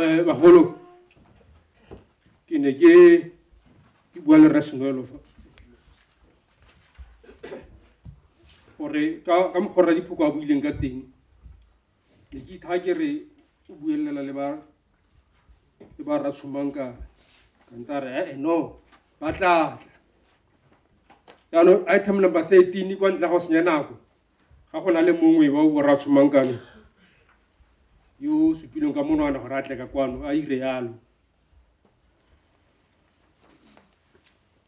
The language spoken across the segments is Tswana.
Eh, bagolo ke ne ke ke bua le rresenoelo fa gore ka ka mokgwa rra diphoko a buileng ka teng ne ke itha ke re o buelela le ba le ba ratshomang ka kanta re eh no ba tla tla jaanong item number thirteen kwa ntle go senya nako ga go na le mongwe wa o ratshomang kano yo o supileng ka monwana gore a tle ka kwano a ire yalo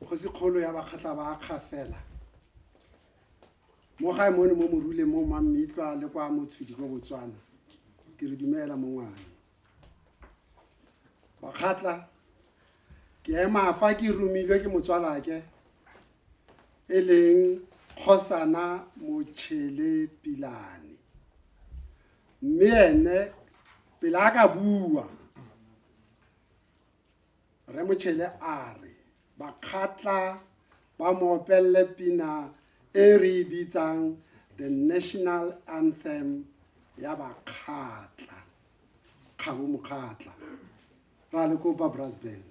Kgosikgolo ya Bakgatla ba Kgafela mo gae mone mo Morule mo Mammitlwa le kwa Motshudi kwa Botswana ke re dumela mongwane Bakgatla ke ema fa ke romilwe ke motswalake e leng Kgosana Motšhele Pilane mme ene pele a ka bua Rre Motšhele a re bakgatla ba mo opelele pina e re e bitsang the national anthem ya bakgatla kgabo mokgatla ra le kopa brass band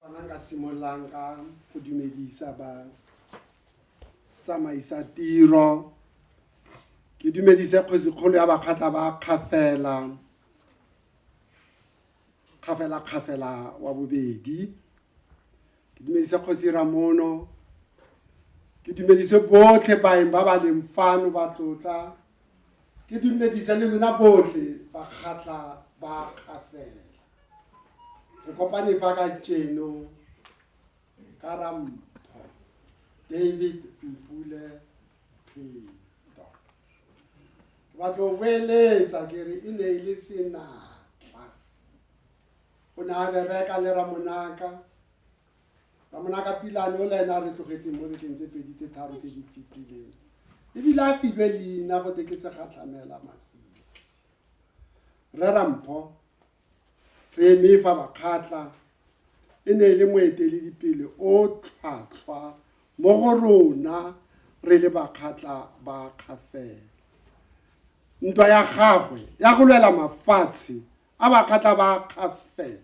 Fana ka simololang ka go dumedisa ba tsamaisa tiro ke dumedise kgosikgolo ya bakgatla ba kgafela kgafela kgafela wa bobedi ke dumedise kgosi ramono ke dumedise botlhe baeng ba ba leng fano ba tlotla Ke dumedisa le lona botlhe bakgatla ba kgafela. Re kopane fa ka tšeno ka Rampho David Mpule Pheto. Ke batla go boeletsa ke re e ne e le senatla. O ne a bereka le Ramonaka ramonaka pilane o le ene a re tlogetseng mo bekeng tse pedi tse tharo tse di fetileng ebile a filwe leina go te ke segatlhamela masisi rera mpho re eme fa bakgatla e ne e le moeteledipele o tlhwatlhwa mo go rona re le bakgatla ba kgafela ntwa ya gagwe ya go lwela mafatshe a bakgatla ba kgafela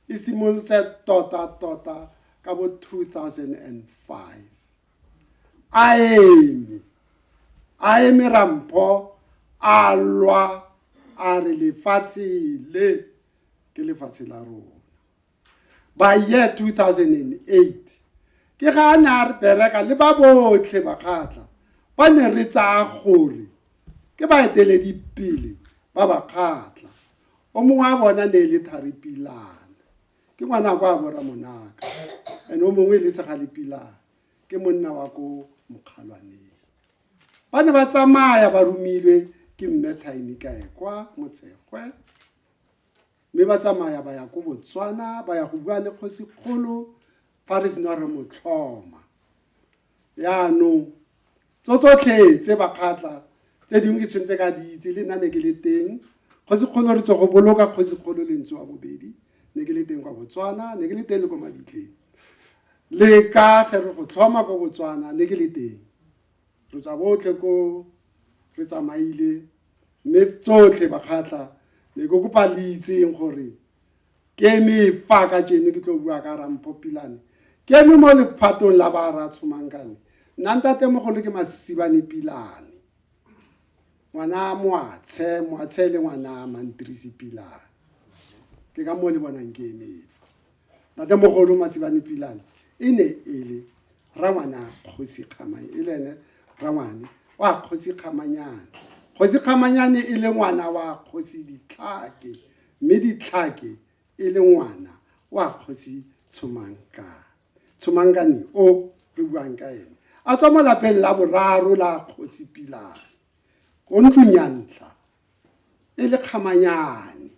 e simolotse tota-tota ka bo 2005 a eme a eme rampho a lwa a re lefatshe le ke lefatshe la rona by year 2008 ke ga a ne a re bereka le ba botlhe bakgatla ba ne re tsaya gore ke baeteledipele ba bakgatla O mongwe wa bona ne e le Thari Pilana, ke ngwana kwa Abora Monaka, and o mongwe e le Segale Pilana, ke monna wa ko Mokgalwaneng. Ba ne ba tsamaya ba romilwe ke Mme Tiny Kaekwa Motsekgwe, mme ba tsamaya ba ya ko Botswana ba ya go bua le kgosikgolo fa re sena re motlhoma. Yaanong Tso tsotlhe tse bakgatla, tse dingwe ke tshwentse ka di itse, le nna ne ke le teng. Kgosikgolo re tswa go boloka Kgosikgolo le ntse wa bobedi, ne ke le teng kwa Botswana, ne ke le teng le ko Mabitleng. Le ka ge re go tlhoma ko Botswana, ne ke le teng. Re tswa botlhe ko re tsamaile, mme tsotlhe bakgatla ne ke kopa le itseng gore Ke eme fa ka jeno ke tlo bua ka Rampho Pilane. Ke eme mo lephatong la ba ra Tshomankane. Nna ntatemogolo ke Masibane Pilane. Ngwana Moatshe, Moatshe le ngwana Mantirisi Pilane. Ke ka mo le bonang ke eme fa. Ntatemogolo Masibane Pilane e ne e le rangwana kgosi kgamane e le ene rangwane wa kgosi kgamanyane kgosi kgamanyane e le ngwana wa kgosi ditlhake mme ditlhake e le ngwana wa kgosi tshomankane tshomankane o re buang ka ene a tswa mo lapeng la boraro la kgosi pilane ko ntlong ya ntlha e le kgamanyane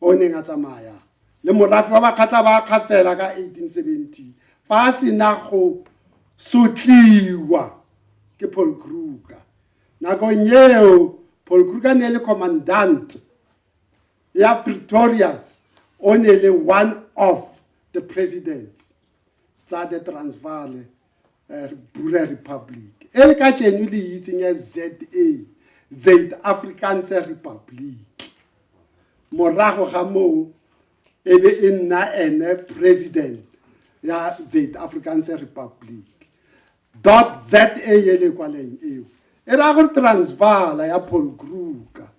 o neng a tsamaya le morafe wa Bakgatla ba Kgafela ka 1870 fa a sena go sotliwa ke Paul Kruger. Nakong eo Paul Kruger ne e le commandant ya Pretorius o ne le one of the presidents tsa the Transvaal eh, Bura Republic e le ka tšeno le itseng ya ZA Zaid Afrikaanse Republic morago ga moo e be e nna ene president ya Zaid Afrikaanse Republic dot za e le kwaleng eo e raya gore transvala ya paul kruger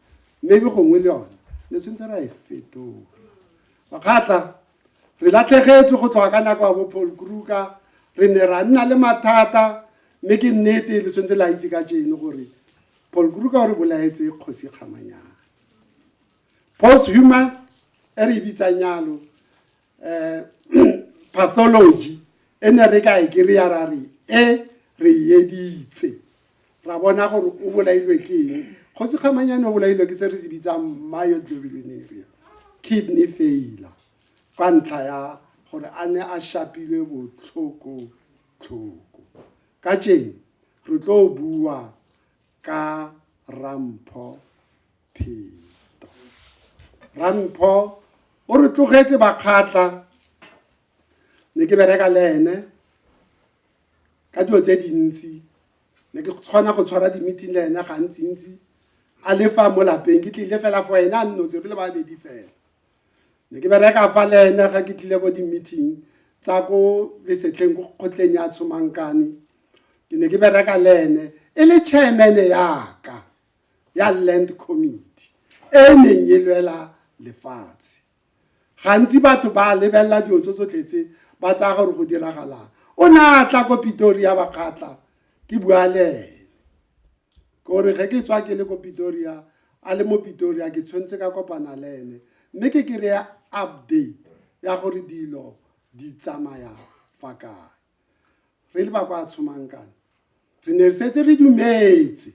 maybe gongwe le yone ne tshwanetse ra e fetola makgatla Re latlhegetswe go tloga ka nako ya bo Paul Kruger, re ne ra nna le mathata mme ke nnete le tshwanetse la itse ka jeno gore Paul Kruger o re bolaetse kgosi kgamanyana post human e re e bitsang yalo um pathology e ne re ka e kry-a ra re e re editse ra bona gore o bolailwe ke eng kgotsi kgamanyane o bolailwe ke se re se bitsang myoglobinuria kidney failure ka ntlha ya gore a ne a shapilwe botlhoko-tlhoko ka tšeng re tlo bua ka rampho pheto rampho o re tlogetse bakgatla ne ke bereka le ene ka dilo tse dintsi ne ke tshwana go tshwara di-meeting le ena gantsi-ntsi a le fa mo lapeng ke tlile fela for ena a nnose re le babedi fela ne ke bereka fa le ena ga ke tlile ko di-meeting tsa ko lesetlheng ko kgotleng ya tshomankane ke ne ke bereka le ene e le chairman yaka ya land committee e neng e lwela lefatshe Gantsi batho ba a lebelela dilo tse tsotlhe tse, ba tsaya gore go diragalang. O ne a tla ko Pitoria ba kgatla ke bua le ene. Ke gore ge ke tswa ke le ko Pitoria, a le mo Pitoria ke tshwanetse ka kopana le ene. Mme ke kry-e update ya gore dilo di tsamaya fa kae. Re le ba kwa Tshomankane re ne re setse re dumetse.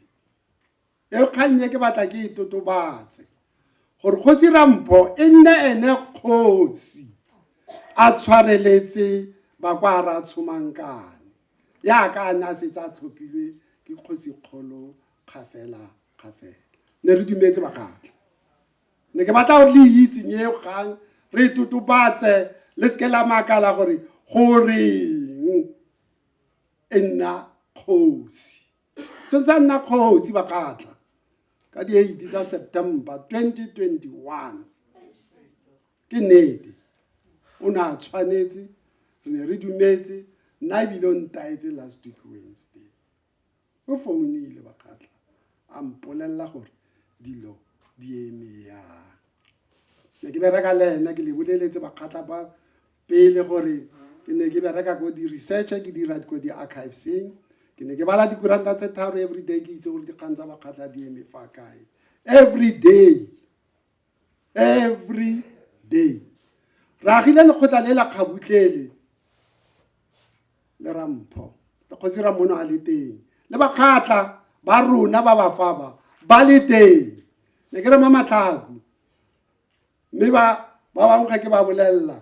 E kgang e ke batla ke e totobatse gore kgosi Rampho e nne ene kgosi a tshwareletse ba kwa ra tshomankane yaka a ne a setse a tlhophilwe ke kgosi kgolo kgafela kgafela ne re dumetse bakgatla ne ke batla gore le itse nye kgang re e totobatse le seke la makala gore goreng e nna kgosi Tso tsa nna kgosi ba ka tla ka di 8 tsa September 2021 ke nnete o ne a tshwanetse re ne re dumetse nna ebile o ntaetse last week wednesday o founile ba ka tla a mpolelela gore dilo di eme yang ne ke bereka le ena ke le boleletse bakgatla ba pele gore ke ne ke bereka ko di-research ke dira ko di-archiveseng ke ne ke bala dikuranta tse tharo every day ke itse gore dikgang tsa bakgatlha di eme fa kae every day every day re agile lekgotla le la kgabutlele le rampho le kgosi ramono a le teng le bakgatla ba rona ba bafaba ba le teng ne ke re ma matlhako mme ba ba bangwe ga ke ba bolelela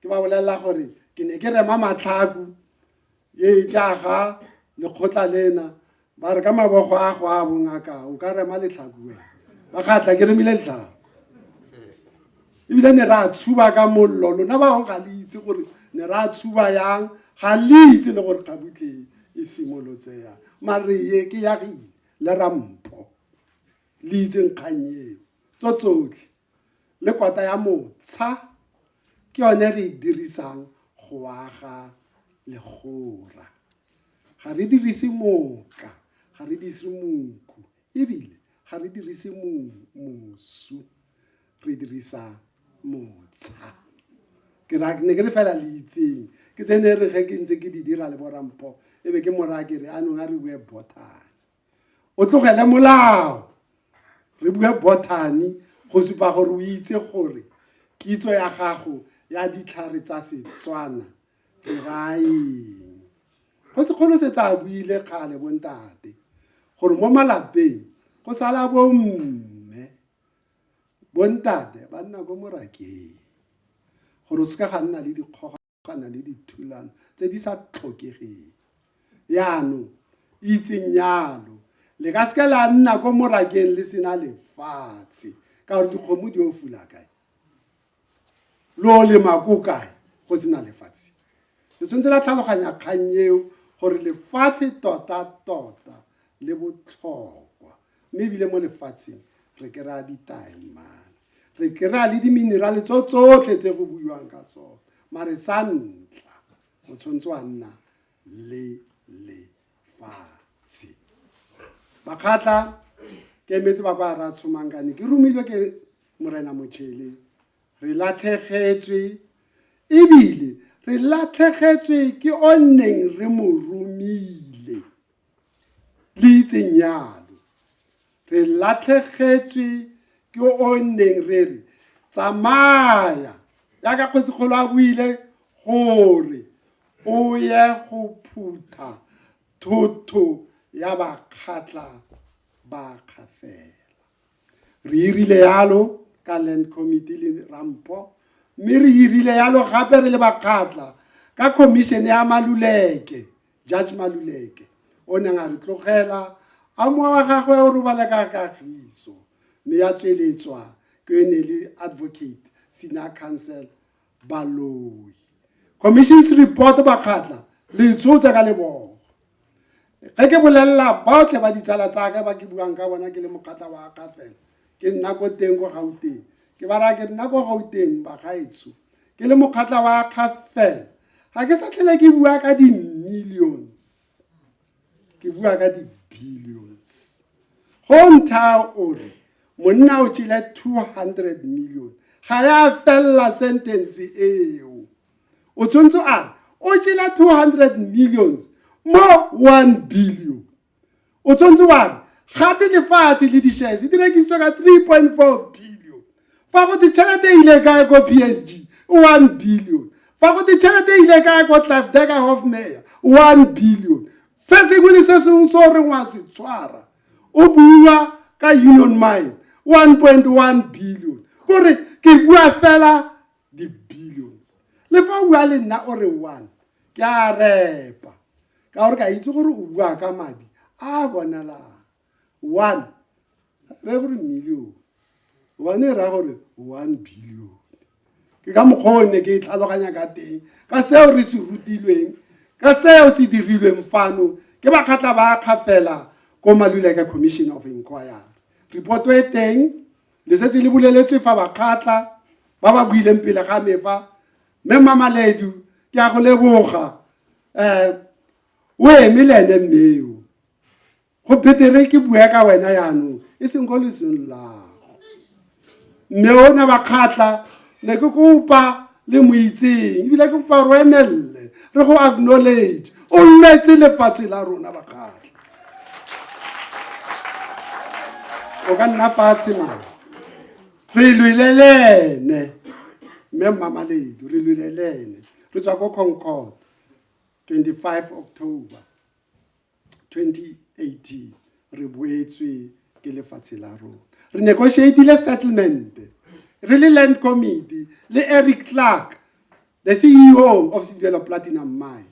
ke ba bolelela gore ke ne ke rema matlhaku e e tla ga lekgotla lena ba re ka mabogo a go a bongaka o ka rema letlhaku wena ba kgatlha ke remile letlhaku ebile ne re a tshuba ka mollo lona ba bangwe ga le itse gore ne re a tshuba yang ga le itse le gore kgabutleng e simolotse yang mare ye ke ya re le rampo le itseng kgang eo tso tsotlhe le kwata ya motsha ke yone re e dirisang go aga legora ga re dirise moka ga re dirise moku ebile ga re dirise mosu re dirisa motsha ke ra ne ke le fela le itseng ke tsene re ge ke ntse ke di dira le borampho e be ke mora ke re anong a re bue botane o tlogele molao re bue botany go supa gore o itse gore kitso ya gago ya ditlhare tsa setswana re raeng go sekgolo se tsa buile kgale bontate gore mo malapeng go sala bomme bontate ba nna ko morakeng gore o seka ga nna le dikgoga kopana le dithulano tse di sa tlhokegeng. Yaanong, itseng yalo, le ka seke la nna ko morakeng le sena lefatshe ka gore dikgomo di o fula kae lo lema ko kae go sena lefatshe le tshwanetse la tlhaloganya kgang eo gore lefatshe tota tota le botlhokwa Mme ebile mo lefatsheng re kry-a ditaemane, re kry-a le di-mineral-e tso tsotlhe tse go buiwang ka tsone. Mare sa ntlha o tshwanetse wa nna le lefatshe. Bakgatla ke emetse ba kwa ra tshomangkane ke romilwe ke morena motšhele re latlhegetswe ebile re latlhegetswe ke o nneng re mo romile. le itseng yalo re latlhegetswe ke o neng re re tsamaya jaaka kgosikgolo a buile gore o ye go phutha thotho ya bakgatla ba kgafela Re irile yalo ka Land Committee le Rampo mme re irile yalo gape re le bakgatla ka khomišene ya Maluleke, Judge Maluleke, o neng a re tlogela a mowa wa gagwe o robala ka kagiso mme ya tsweletswa ke e ne le Advocate Senior Counsel Baloyi. Commission's report bakgatla le tsotsa ka lebogo ge ke bolelela baotlhe ba ditsala tsaka ba ke buang ka bona ke le mokgatla wa ka fela ke nna ko teng ko gauteng ke ba raya ke nna ko gauteng bagaetsho ke le mokgatla wa kgafela ga ke sa tlhele ke bua ka di-millions ke bua ka di-billions go ntha o re monna o tšele 200 million ga ya felela sentence eo o tshwanetse a re o tšele 200 millions mo 1 billion o tshwanetse wa re gate lefatshe le di-shares di rekisiwa ka 3.4 billion Fa go te tšhelete e ile kae ko PSG, 1 billion. Fa go te tšhelete e ile kae ko Klavdega Hofmeyr, 1 billion. Se sengwe le se sengwe se o reng wa se tshwara, o bua ka Union Mine, 1.1 billion. Kore ke bua fela di-billions. Le fa o bua le nna o re one, ke a repa. Ka gore ke a itse gore o bua ka madi a bonalang. one re gore million one e raya gore one billion ke ka mokgwa o ne ke e tlhaloganya ka teng ka seo re se rutilweng ka seo se dirilweng fano ke bakgatla ba kgafela ko maluleka commission of inquiry reporto e teng le setse le buleletswe fa bakgatla ba ba buileng pele ga me fa mme mamaledu ke a go leboga um o eme le ene mmeo go betere ke bua ka wena yaanong e seng ko lesong lago mme o na ba kgatlha ne ke kopa le mo itseng ebile ke kopa ro emelele re go acknowledge o nnetse lefatshe la rona ba kgatlha o ka nna fatshe mara re lwelelene mme mmamaledu re lwelelene re tswa ko concord 25 october 2018 re boetswe ke lefatshe la rona re negotiatile settlement re le land committee le eric clark the ceo of sedibelo platinum mine